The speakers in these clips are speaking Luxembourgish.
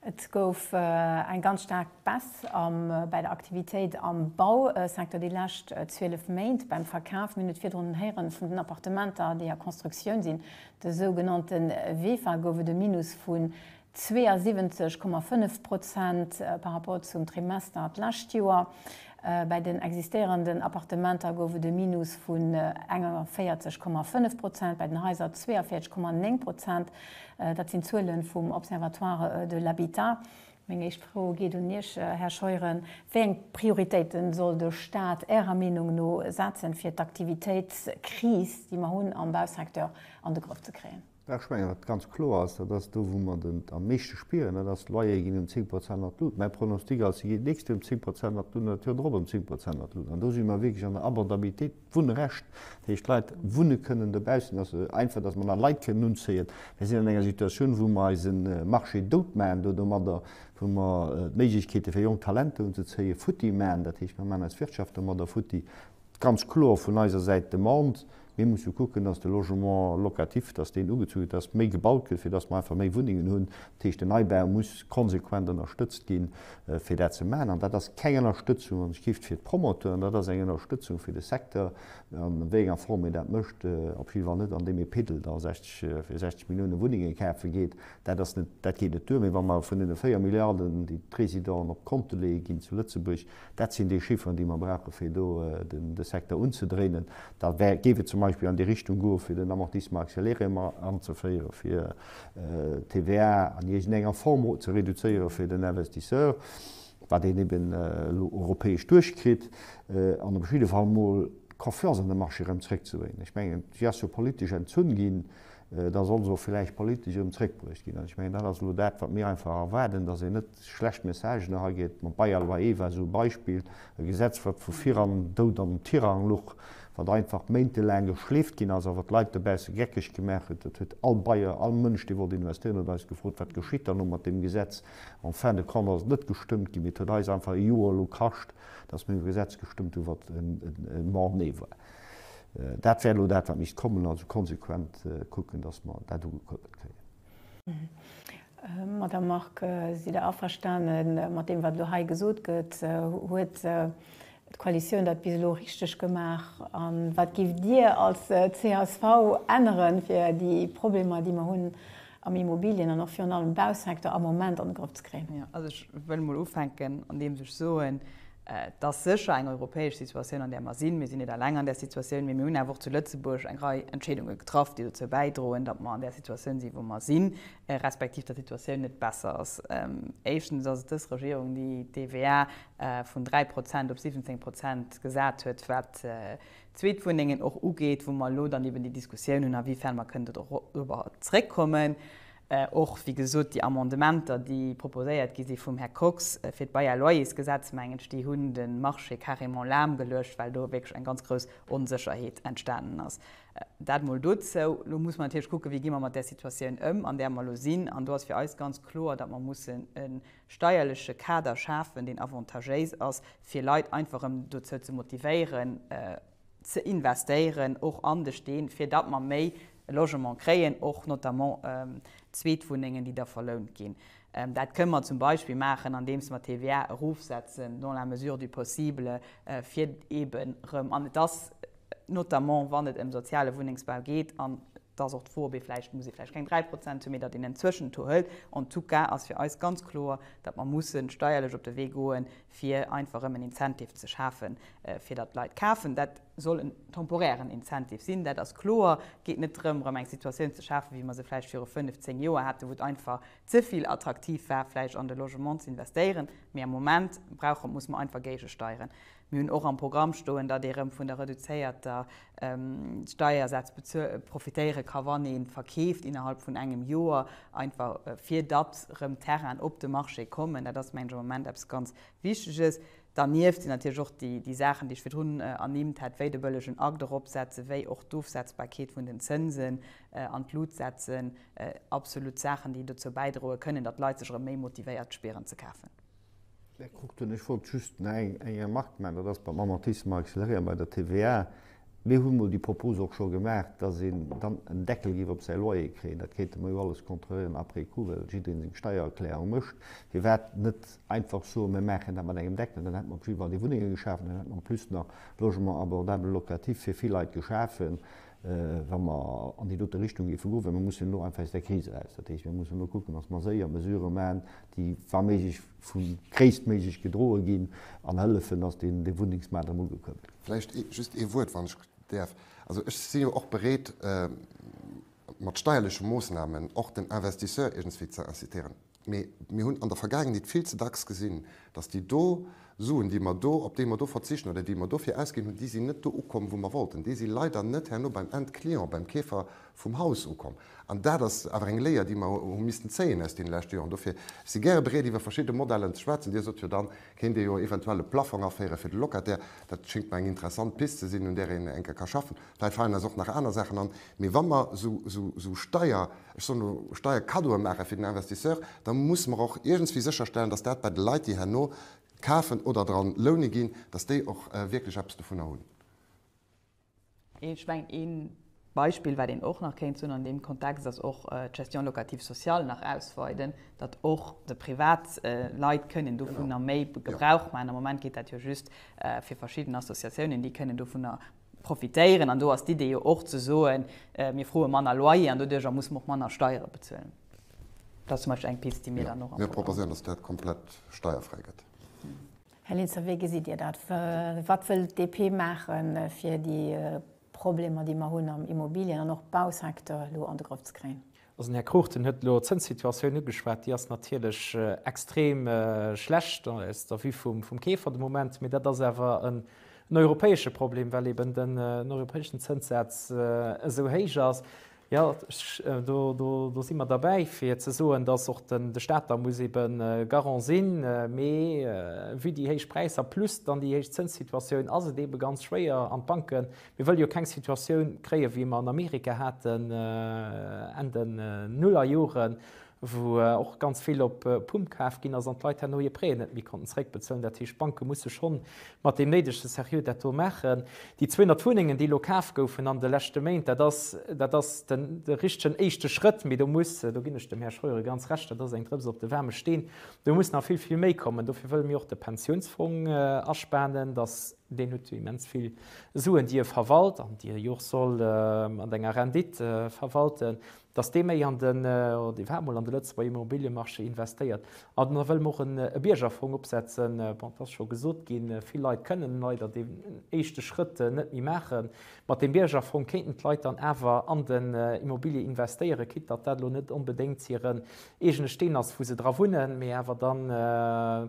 Et gouf eng ganz staark Baisse bei der Aktivitéit am Bausecteur déi lescht 12 Méint. Beim Verkaf, mir hunn et virdrun héieren, vun den Appartementer, déi a Constructioun sinn, de sougenannte Vefa, gouf et e Minus vun 72,5 Prozent par rapport zum Trimester d'lescht Joer. Bei den existéierenden Appartementer gouf et e Minus vun 41,5 Prozent, bei den Haiser 42,9 Prozent. Dat sinn d'Zuele vum Observatoire de l'habitat. Meng éischt Fro geet un Iech, Här Scheuren. Wéi eng Prioritéite soll de Staat Ärer Meenung no setzen, fir d'Aktivitéitskris, déi mer hunn am Bausecteur, an de Grëff ze kréien? Ech mengen, datt ganz kloer ass, dat ass do, wou mer et am meeschte spieren, dat ass, d'Loyere ginn ëm 10 Prozent an d'Lut. Mäi Pronostic ass, se geet d'nächst Joer ëm 10 Prozent an d'Lut an dat Joer drop ëm 10 Prozent an d'Lut. An do si mer wierklech an der Abordabilitéit, d'Wunnrecht, dat heescht, d'Leit wunne kënnen dobaussen, dass se einfach, dass mer nach Leit kënnen unzéien. Mir sinn an enger Situatioun, wou mer eise Marché dout maachen do domadder, wou mer d'Méiglechkeete fir jonk Talenter unzezéien futti maachen, dat heescht, mer maachen eis Wirtschaft domadder futti. Ganz kloer vun eiser Säit d'Demande, mir musse kucken, dass de Logement locatif, dass deen ugezu gëtt, dass méi gebaut gëtt, fir dass mer einfach méi Wunnengen hunn. Dat heescht, den Neibau muss konsequent ënnerstëtzt ginn, fir dat ze maachen. An dat ass keng Ënnerstëtzung an Gift fir d'Promoteuren, dat ass eng Ënnerstëtzung fir de Secteur. An wéi enger Form ee dat mécht, op jidde Fall net andeem ee Piddel da 60, fir 60 Milliounen Wunnengen kafe geet, dat ass net, dat geet net duer. Mee wa mer vun deene 4 Milliarden, déi d'Résidenten op d'Konte leeë ginn zu Lëtzebuerg, Dat sinn déi Chifferen, déi mer brauchen, fir do de Secteur unzedréinen. Da géif et zum Beispill an déi Richtung goen, fir den Amortissement accéléré mat anzeféieren, fir d'TVA an iergendenger Form ze reduzéieren fir den Investisseur, wat een eben elo europäesch duerchkritt, an op jidde Fall emol d'Confiance an de Marché erëm zréckzebréngen. Ech mengen, si ass jo politesch entzunn ginn, da soll se och villäicht politesch erëm zréckbruecht ginn. An ech mengen, dat ass elo dat, wat mir einfach erwaarden, dass een net schlecht Messagen erageet. Mam Bayer loi I war esou e Beispill, e Gesetz, wat vu viran Doud an Tirang luch, wat einfach méintelaang geschleeft ginn ass a wat d'Leit dobausse geckeg gemaach huet. Et huet all Bayer, all Mënsch, dee wollt investéieren, huet eis gefrot, Wat geschitt dann elo mat deem Gesetz? En fin de compte ass et net gestëmmt ginn, mee et huet eis einfach e Joer elo kascht, datt mir e Gesetz gestëmmt hunn, wat en Mort-né war. Dat wär elo dat, wat misst kommen, also konsequent kucken, datt mer dat ugekuerbelt kréien. Madame Margue, sidd Der averstane mat deem, wat elo hei gesot gëtt? Huet d'Koalitioun dat bis elo richteg gemaach? A wat gift Dir als csv änneren, fir déi Problemer, déi mer hunn am Immobilien an och virun allem Bausecteur am Moment an de Grëff ze kréien? Also ech wëll emol ufänken, andeems ech soen, Et ass sécher eng europäesch Situatioun, an där mer sinn. Mir sinn net eleng an där Situatioun, mee mir hunn awer och zu Lëtzebuerg eng Rei Entscheedunge getraff, déi dozou bäidroen, datt mer an där Situatioun sinn, wou mer sinn, respektiv datt d'Situatioun net besser ass. Éischtens ass et dës Regierung, déi d'TVA vun dräi Prozent op 17 Prozent gesat huet, wat d'Zweetwunnengen och ugeet, wou mer elo dann eben déi Diskussioun hunn, awifern mer kënnen dorobber zréckkommen. Och, wéi gesot, déi Amendementer, déi proposéiert gi si vum Här Kox fir d'Bail-à-loyers-Gesetz, mengen ech, déi hunn de Marché carrément lahmgeluecht, well do wierklech eng ganz grouss Onsécherheet entstanen ass. Dat emol dozou. Elo muss mer natierlech kucken, wéi gi mer mat där Situatioun ëm, an där mer elo sinn. An do ass fir eis ganz kloer, datt mer mussen e steierleche Kader schafen, deen avantagéis ass, fir Leit einfach erëm dozou ze motivéieren, ze investéieren och an de Steen, fir datt mer méi Logement kréien, och notamment Zweetwunnengen, déi da verlount ginn. Dat kënnen mer zum Beispill maachen, andeems mer d'TVA erofsetzen, dans la mesure du possible, fir eeben erëm, an et ass notamment, wann et ëm soziale Wunnengsbau geet, an et ass och d'Frob, vläicht muss ee vläicht keng 3 Prozent hunn, mee datt een en Zwëschentour hëlt. En tout cas ass fir eis ganz kloer, datt mer musse steierlech op de Wee goen, fir einfach erëm en Incentive ze schafen, fir datt d'Leit kafen. Dat soll en temporären Incentive sinn, dat ass kloer. Et geet net drëm, erëm eng Situatioun ze schafen, wéi mer se vläicht viru fënnf, zéng Joer haten, wou et einfach ze vill attraktiv war, vläicht an de Logement ze investéieren. Mee am Moment brauche, muss mer einfach géigesteieren. Mir hunn och am Programm stoen, datt ee erëm vun der reduzéierter Steiersätz profitéiere ka wann ee verkeeft innerhalb vun engem Joer, einfach fir datt erëm Terrainen op de Marché kommen. Dat ass mengen ech am Moment eppes ganz Wichteges. Dernieft sinn natierlech och déi Saachen, déi ech virdrun ernimmt hat, wéi de bëllegen Akt eropsetzen, wéi och d'Ofsetzbarkeet vun den Zënsen an d'Lut setzen, absolut Saachen, déi dozou bäidroe kënnen, datt d'Leit sech erëm méi motivéiert spieren ze kafen. Här Cruchten, ech wollt just nach eng Remark maachen, dat ass beim Amortissement accéléré an bei der TVA. Mir hu mol déi Propos och scho gemaach, dass een dann en Deckel géif op säi Loyer kréien. Dat kéinte mer jo alles kontrolléieren après coup, well jiddereen seng Steiererklärung mécht. Firwat net einfach soen, mir maachen dat mat engem Deckel? Dann hätte mer op jiddwer Fall déi Wunnenge geschaf an dann hätte mer en plus nach Logement abordable locatif fir vill Leit geschafen. wa mer an déi dote Richtung géife goen, well mer mussen elo einfach aus där Kris eraus. Dat heescht, mir mussen elo kucken, datt mer séier Mesurë maachen, déi wa méiglech vu gréisstméiglech gedroe ginn an hëllefen, datt deen Wunnengsmaart erëm ugekuerbelt gëtt. Vläicht just ee Wuert, wann ech däerf. Also ech si jo och bereet, mat steierleche Moosnamen och den Investisseur iergendswéi ze incitéieren. Mee mir hunn an der Vergaangenheet vill ze dacks gesinn, dass déi do Suen, déi mer do, op déi mer do verzichten oder déi mer dofir ausginn hunn, déi sinn net do ukomm, wou mer wollten. Déi si leider net herno beim Endclient, beim Keefer vum Haus ukomm. An dat ass awer eng Léier, déi mer hu missten zéien aus deene leschte Joren. Dofir, ech si gäre bereet, iwwer verschidde Modellen ze schwätzen. Dir sot jo, da kéint ee jo eventuell e Plaffong aféieren fir de Locataire. Dat schéngt mer eng interessant Pist ze sinn, un där een enke ka schaffen. Vläicht falen eis och nach aner Saachen an. Mee wa mer esou Steier. ech soen elo, Steierkaddoe maache fir den Investisseur, da mussen mer och iergendswéi sécherstellen, datt dat bei de Leit, déi herno kafen oder dra loune ginn, datt déi och wierklech eppes dovunner hunn. Ech mengen, ee Beispill, wat een och nach kéint soen an deem Kontext, ass och d'Gestion locative sociale nach ausweiden, datt och déi privat Leit kënnen dovunner méi Gebrauch maachen. Am Moment geet dat jo just fir verschidden Associatiounen, déi kënnen dovunner profitéieren an do ass d'Idee jo och ze soen, mir froe manner Loyer an doduerjer muss mer och manner Steiere bezuelen. Dat ass zum Beispill eng Pist, déi mir dann och am Programm hunn. Jo, mir proposéieren, dass dat komplett steierfräi gëtt. Här Linster, wéi gesitt Dir dat? Wat wëll d'DP maache fir déi Problemer, déi mer hunn am Immobilien an och Bausecteur elo an de Grëff ze kréien? Also den Här Cruchten huet elo d'Zënssituatioun ugeschwat. Déi ass natierlech extrem schlecht aus der Vue vum Keefer de Moment. Mee dat ass awer en europäesche Problem, well eeben den europäeschen Zënssaz esou héich ass. Jo, do si mer derbäi, fir ze soen, datt och de Stat da muss eebe Garant sinn. Mee vue déi héich Präisser plus dann déi héich Zënssituatioun ass et eebe ganz schwéier an d'Banke Mir wëlle jo keng Situatioun kréien, wéi mer an Amerika haten Enn den Nullerjoren, wou och ganz vill op Pump kaf ginn ass an d'Leit herno hir Prêten net méi konnten zeréckbezuelen. Dat heescht, d'Banke musse schonn mat deem néidege Seriö dat do maachen. Déi 200 Wunnengen, déi elo kaf goufen an de leschte Méint, dat ass, dat ass de richtegen éischte Schrëtt. Mee do muss, do ginn ech dem Här Scheuren ganz Recht, dat ass eng Drëps op de waarme Steen, do muss nach vill, vill méi kommen. Dofir wëlle mir och de Pensiounsfong aspanen, dass, Deen huet jo immens vill Suen, déi e verwalt an déi e jo och soll mat enger Rendite verwalten, datt dee méi an den, oder dee war emol an de Lëtzebuerger Immobiliëmarché investéiert. An da wëlle mer och e Biergerfong opsetzen. Bon, et ass scho gesot ginn, vill Leit kënnen leider deen éischte Schrëtt net méi maachen. Mat deem Biergerfong kéinten d'Leit dann awer an den Immobilië investéieren, quitt datt dat elo net onbedéngt hiren eegene Steen ass, wou se dra wunnen, mee awer dann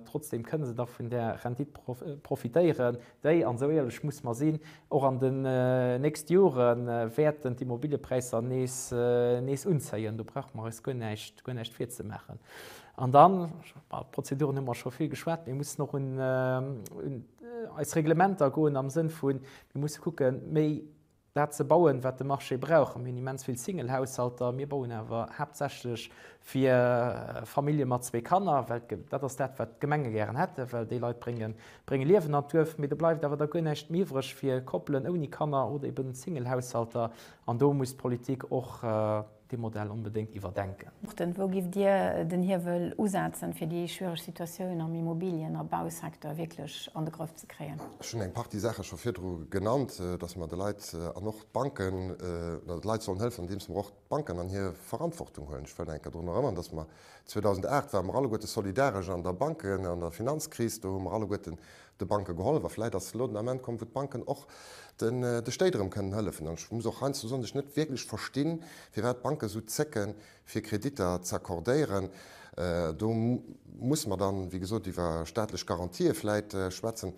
trotzdeem kënne se dach vun där Rendite profitéieren, déi, an esou éierlech musse mer sinn, och an den nächste Jore wäerten d'Immobiliëpräisser nees unzéien. Do brauche mer eis guer näischt virzemaachen. An dann, iwwer d'Prozeduren hu mer scho vill geschwat, mir mussen och un eis Reglementer goen am Sënn vu mir musse kucke méi, dat ze bauen, wat de Marché brauch. A mir hunn immens vill Single-Haushalter. Mir bauen awer haaptsächlech fir Famillje mat zwee Kanner, well dat ass dat, wat d'Gemenge gären hätten, well déi Leit brénge Liewen an d'Duerf. Mee do bleift awer da guer näischt méi iwwreg fir Koppelen ouni Kanner oder eben Single-Haushalter. An do muss d'Politik och, Dee Modell onbedéngt iwwerdenken. Wou giff Dir den Hiewel usetzen, fir déi schwiereg Situatioun am Immobilien a Bausecteur wierklech an de Grëff ze kréien? Ech hunn eng Partie Saache scho virdru genannt, datt mer de Leit an och d'Banken, datt mer de Leit sollen hëllefen, andeems mer och d'Banken an hir Verantwortung huelen. Ech wëll eng Kéier drun erënnern, datt mer 2008 ware mer alleguerte solidaresch an der Banken an der Finanzkris. Do hu mer alleguerte de Banke gehollef a vläit ass elo den Ament komm, wou d'Banken och de Stéit erëm kënnen hëllefen. An ech muss och heiansdo soen, dass ech net wierklech verstinn, firwat d'Banken esou zécken, fir Kreditter z'accordéieren. Do musse mer dann, wéi gesot, iwwer staatlech Garantië vläit schwätzen.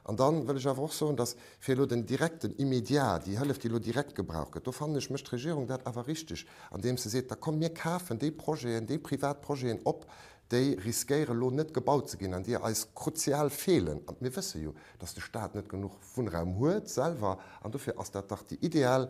An da wëll ech awer och soen, dass fir elo den direkten, immédiat, déi Hëllef, déi elo direkt gebraucht gëtt, do fannen ech, mécht d'Regierung dat awer richtig, andeems se seet, da komm mir kafen déi Projeten, déi privat Projeten op, déi riskéiere lo net gebaut ze ginn an déi eis kruzial feelen. An mir wësse jo, datt de Staat net genuch Wunnraum huet selwer an dofir ass dat dach déi ideal,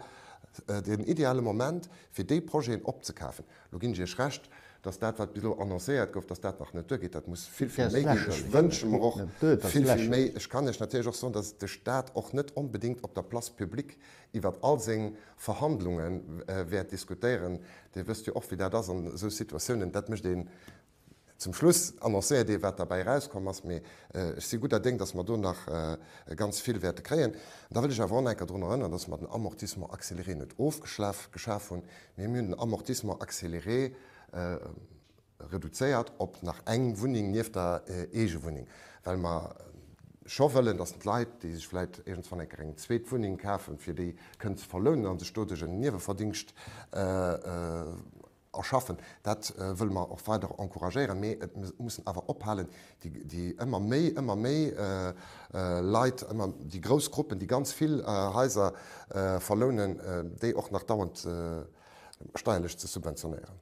den ideale Moment, fir déi Projeten opzekafen. Lo ginn ech Iech Recht, datt dat, wat bis elo annoncéiert gouf, datt dat nach net duergeet. Dat muss vill, vill méi ginn. Ech wënsche mer och vill, vill méi. Ech kann Iech natierlech och soen, datt de Staat och net onbedéngt op der Place publique iwwert all seng Verhandlunge wäert diskutéieren. Dir wësst jo och, wéi dat ass an esou Situatiounen, dat mécht een zum Schluss, annoncéiert ee wat derbäi erauskomm ass. Mee ech si gudder Déng, datt mer do nach ganz vill wäerte kréien. Da wëll ech awer och nach eng Kéier drun erënneren, datt mer den Amortissement accéléré net ofgeschaf hunn, mee mir hunn den Amortissement accéléré, reduzéiert op nach eng Wunneng nieft der Eegewunneng, well mer scho wëllen, dass d'Leit, déi sech vläicht iergendswann eng Kéier eng zweet Wunneng kafen, fir déi kënnen ze verlounen a sech doduerch en Nieweverdingscht erschaffen. Dat wëlle mer och weider encouragéieren. Mee et mussen awer ophalen, déi ëmmer méi, ëmmer méi Leit, ëmmer déi grouss Gruppen, déi ganz vill Haiser verlounen, déi och nach dauernd steierlech ze subventionéieren.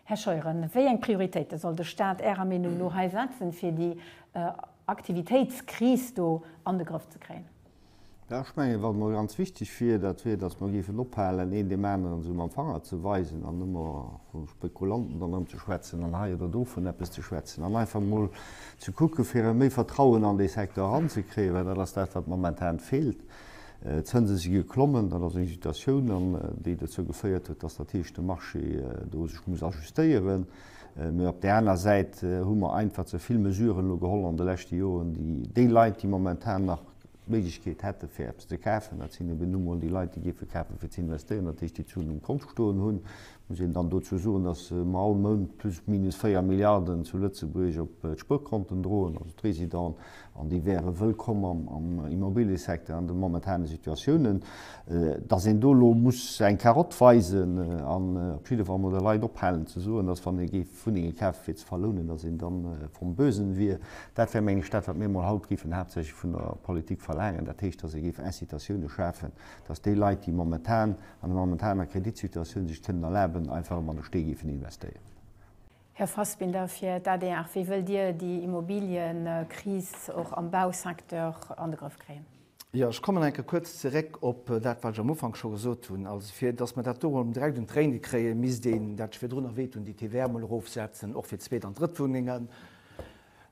Här Scheuren, wéi eng Prioritéite soll de Stat Ärer Meenung no hei setzen, fir déi Aktivitéitskris do an de Grëff ze kréien? Jo, ech mengen, wat emol ganz wichteg wier, dat wier, datt mer géifen ophalen, een deem aneren esou mam Fanger ze weisen an ëmmer vu Spekulanten dann erëm ze schwätzen an hei oder do vun eppes ze schwätzen an einfach emol ze kucken, fir erëm méi Vertrauen an dee Secteur eranzekréien, well dat ass dat, wat momentan feelt. D'Zënse si geklommen, dat ass eng Situatioun, an déi dozou geféiert huet, datt dat heescht de Marché do sech muss ajustéieren. Mee op där aner Säit hu mer einfach ze vill Mesuren elo geholl an de leschte Joren, déi déi Leit, déi momentan nach d'Méiglechkeet hätte fir eppes ze kafen, dat sinn ebe nu mol déi Leit, déi géife kafe fir ze investéieren, dat heescht déi d'Suen um Kont stoen hunn, Muss een dann dozou soen, dass mer all Mount plus minus 4 Milliarden zu Lëtzebuerg op d'Spuerkonten droen, also d'Résidenten, an déi wäre wëllkomm am Immobiliësecteur an de momentane Situatiounen. Dass een do elo muss eng Karotte weisen an op jidde Fall mol de Leit ophalen ze soen, dass wann ee géif Wunnenge kafe fir ze verlounen, dass een da vom Bösen wier, dat wär, meng ech, dat wat mir mol haut géifen haaptsächlech vun der Politik verlaangen, dat heescht, dass ee géif Incitatiounen schafen, dass déi Leit, déi momentan an der momentaner Kreditsituatioun sech kënnen erlaben, einfach erëm an de Stee géifen investéieren. Här Fassbinder, fir d'ADR, wéi wëllt Dir déi Immobilienkris och am Bausecteur an de Grëff kréien? Jo, ech kommen nach eng Kéier kuerz zeréck op dat, wat ech am Ufank scho gesot hunn. Also, fir dass mer dat do emol direkt un d'Réine kréien, misst een, dat sech virdrun erwähnt hunn, déi TVA emol erofsetzen, och fir Zweet an Drëttwunnengen.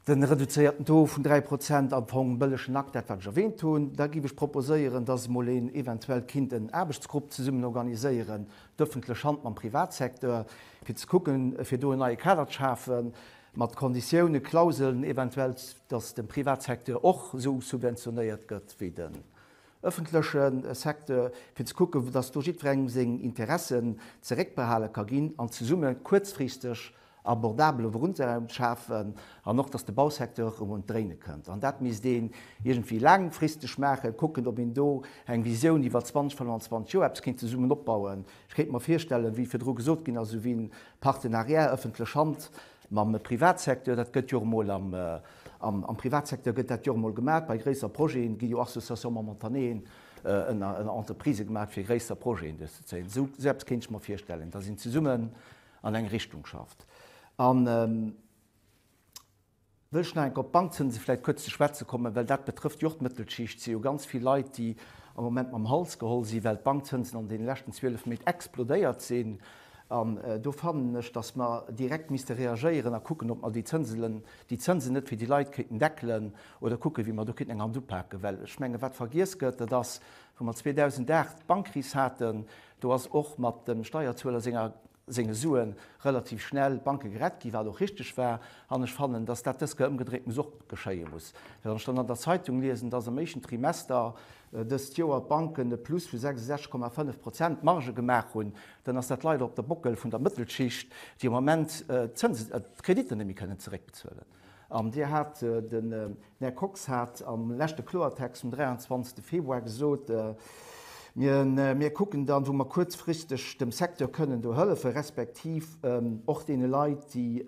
den reduzéierten Taux vun 3 Prozent am Fong en bëllegen Akt, dat wat ech erwähnt hunn. Da giff ech proposéieren, dass emol een eventuell kinnt en Aarbechtsgrupp zesummen organiséieren, d'öffentlech Hand mam Privatsecteur, fir ze kucken, fir do en neie Kader ze schafen, mat Konditiounen, Klauseln eventuell, dass de Privatsecteur och esou subventionéiert gëtt wéi den öffentleche Secteur, fir ze kucken, dass do jiddwerengem seng Interessen zeréckbehale ka ginn an zesumme kuerzfristeg abordabele Wunnraum schafen an och, datt de Bausecteur erëm un d'Dréine kënnt. An dat misst een iergendwéi laangfristeg maachen, kucken, ob een do eng Visioun iwwer 20, 25 Joer eppes kéint zesummen opbauen. Ech kéint mer virstellen, wéi virdru gesot ginn ass, esouwéi e Partenariat ëffentlech Hand mam Privatsecteur, dat gëtt jo och emol am Privatsecteur gëtt dat jo och emol gemaach, bei gréisser Projete gi jo Associations momentaneen ënner Entreprisë gemaach, fir gréisser Projeten duerchzezéien. Esou eppes kéint ech mer virstellen, datt een zesummen an eng Richtung schafft. An wëll ech nach eng Kéier op d'Bankzënse vläicht kuerz ze schwätze kommen, well dat betrëfft jo och d'Mëttelschicht. Et si jo ganz vill Leit, déi am Moment mam Hals geholl sinn, well d'Bankzënsen an deene leschten 12 Méint explodéiert sinn. An do fannen ech, datt mer direkt misste reagéieren a kucken, ob mer déi Zënselen, déi Zënsen net fir déi Leit kéinten deckelen oder kucken, wéi mer do kéinten eng Hand upaken. Well ech mengen, wat vergiess gëtt, dat ass, wou mer 2008 d'Bankkris haten, Do ass och mat dem Steierzueler senger senge Sue relativ schnell d'Banke gerett ginn, wat och richteg war. An ech fannen, datt dat dës Kéier ëmgedréint muss och geschéie muss. Well wann ech dann an der Zeitung liesen, datt am éischten Trimester dëst Joer d'Banken e Plus vu 66,5 Prozent Marge gemaach hunn, dann ass dat leider op der Bockel vun der Mëttelschicht, déi am Moment d'Kreditter net méi kënnen zeréckbezuelen. An Dir hat, den Här Kox hat am leschte Kloertext vum 23. Februar gesot, Mir kucken dann, wou mer kuerzfristeg dem Secteur kënnen do hëllefen, respektiv och deene Leit, déi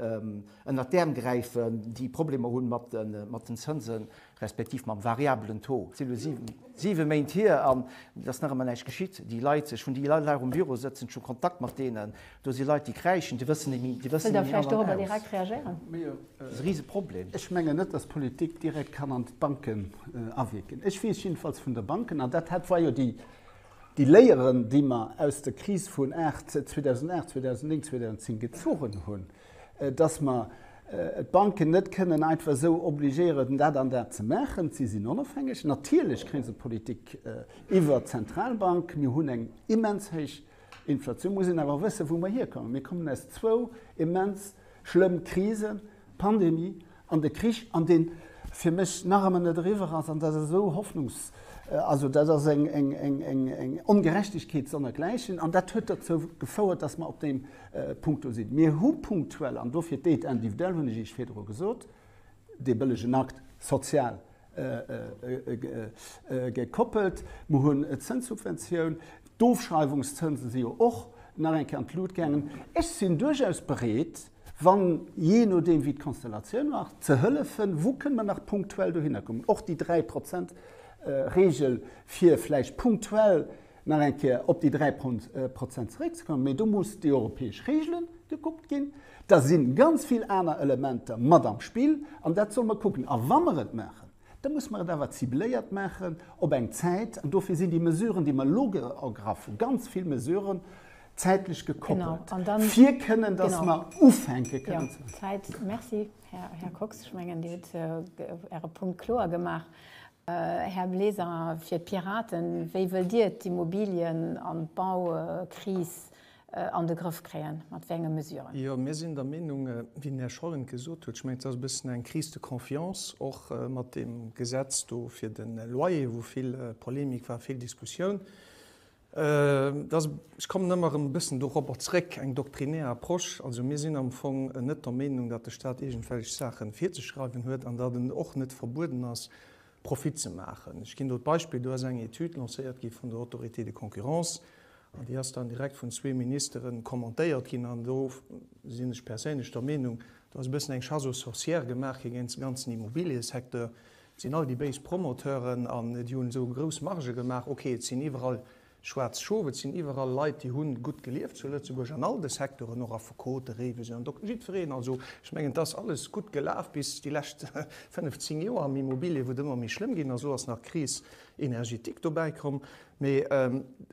ënnert d'Äerm gräifen, déi Problemer hu mat den Zënsen. respektiv mam variabelen Taux, et si elo siwe Méint hier an et ass nach ëmmer näischt geschitt, déi Leit, ech hunn déi Leit nach um Büro sëtzen, ech hu Kontakt mat deenen, do si Leit, déi kräischen, déi wëssen et ni, déi wëssen et ni an an aus. Riseproblem. Ech mengen net, dass d'Politik direkt kann an d'Banken awierken. Ech weess jiddefalls vun de Banken, an dat hat, war jo déi Léieren, déi mer aus der Kris vun 2008, 2009, 2010 gezogen hunn, dass mer d'Banken net kënnen einfach esou obligéieren, dat an dat ze maachen. Si sinn onofhängeg. Natierlech kréie se d'Politik iwwert d'Zentralbank. Mir hunn eng immens héich Inflatioun. Mir mussen awer wëssen, wou mer hierkommen. Mir kommen aus zwou immens schlëmm Krisen, Pandemie an de Krich, an deen fir mech nach ëmmer net eriwwer ass, an dat ass esou hoffnungs-, also dat ass eng, eng, eng, eng, eng Ongerechtegkeet sonnergläichen, an dat huet dozou gefouert, dass mer op deem Punkt do sinn. Mir hu punktuell, an dofir d'Aide individuelle, hunn ech Iech virdru gesot, dee bëllegen Akt social gekoppelt, mer hunn d'Zënssubventioun, d'Ofschreiwungszënse si jo och nach eng Kéier an d'Lut gaangen. Ech sinn duerchaus bereet, wann, jee nodeem wéi d'Konstellatioun war, ze hëllefen, wou kënne mer nach punktuell dohinner kommen, och déi dräi Prozent Regel, fir vläicht punktuell nach eng Kéier op déi dräi Prozent zeréckzekommen. Mee do muss déi europäesch Regele gekuckt ginn, da si ganz vill aner Elementer mat am Spill an dat solle mer kucken. A wa mer et maachen, da muss mer et awer cibléiert maachen op eng Zäit an dofir sinn déi Mesuren, déi mer elo ergraffen, ganz vill Mesuren, zäitlech gekoppelt, fir kënnen, dass mer ufänke kënnen ze maachen. Merci, Här Kox. Ech mengen, Dir hutt Äre Punkt kloer gemaach. Här Bleser, fir d'Piraten, wéi wëllt Dir d'Immobilien an d'Baukris an de Grëff kréien, mat wéi enge Mesuren? Jo, mir sinn der Meenung, wéi den Här Schollen et gesot huet, ech mengen, et ass e bëssen eng Crise de confiance, och mat deem Gesetz do fir de Loyer, wou vill Polemik war, vill Diskussioun. Ech kommen ëmmer erëm e bëssen dorobber zrëck, eng doktrinär Approche. Also mir sinn am Fong net der Meenung, datt de Staat iergendwelch Saache virzeschreiwen huet an datt en och net verbueden ass, Profit ze maachen. Ech ginn do d'Beispill, do ass eng Etüd lancéiert gi vun der Autorité de concurrence an déi ass dann direkt vun zwee Ministere commentéiert ginn an do sinn ech perséinlech der Meenung, do ass e bëssen eng Chasse aux sorcières gemaach gi géint de ganzen Immobiliësecteur. Et sinn all déi béis Promoteuren an déi hunn esou grouss Margë gemaach. Ok, et sinn iwwerall schwaarz Schof, et sinn iwwerall Leit, déi hunn gutt gelieft zu Lëtzebuerg an all de Secteuren, och Affekoten, Réiwesen an Dokter, jiddwereen. Also ech mengen, et ass alles gutt gelaf bis déi lescht fënnef, zéng Joer am Immobilier, wou et ëmmer méi schlëmm ginn ass. Elo ass nach d'Crise énergétique dobäi komm. Mee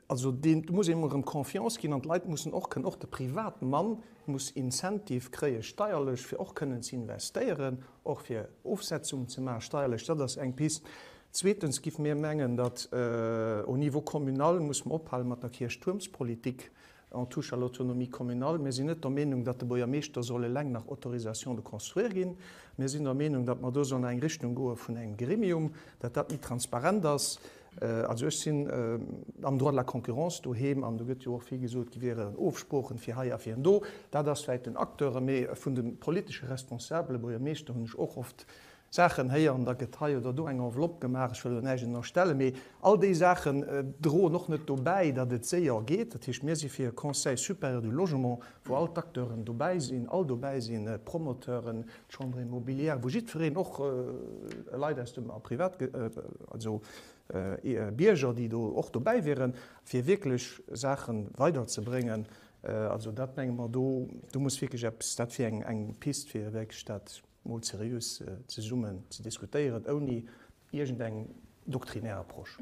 also deen, do muss ee mol erëm Confiance ginn an d'Leit mussen och kënnen, och de Privatmann muss Incentive kréie steierlech, fir och kënnen ze investéieren. Och fir Ofsetzungen ze maachen, steierlech, dat ass eng Pist. Zweetens giff mir mengen, datt au niveau communal muss mer ophalen mat der Kierchtuermspolitik en touche à l'autonomie communale. Mir sinn net der Meenung, datt de Buergermeeschter soll eleng nach Autorisation de construire ginn. Mir sinn der Meenung, datt mer do sollen an eng Richtung goe vun engem Gremium, datt dat méi transparent ass. Also ech sinn am Droit de la concurrence doheem an do gëtt jo och vill gesot, gi wiere Ofsproochen fir hei a fir do. Dat ass vläicht den Acteure, mee vun de politesche Responsabele, Buergermeeschter, hunn ech och oft Saachen héieren, da gëtt hei oder do eng Enveloppe gemaach. Ech wëll elo näischt ënnerstellen, mee all déi Saachen droen och net dobäi, datt et séier geet. Dat heescht, mir si fir e Conseil supérieur du logement, wou all d'Acteuren dobäi sinn, all dobäi sinn, Promoteuren, D'Chambre immobilière, wou jiddwereen, och Leit aus dem Privat, also Bierger, déi do och dobäi wieren, fir wierklech Saache weiderzebréngen, also dat menge mer, do muss wierklech eppes, dat wier eng Pist, fir wierklech dat emol seriös zesummen ze diskutéieren, ouni iergendeng doktrinär Approche.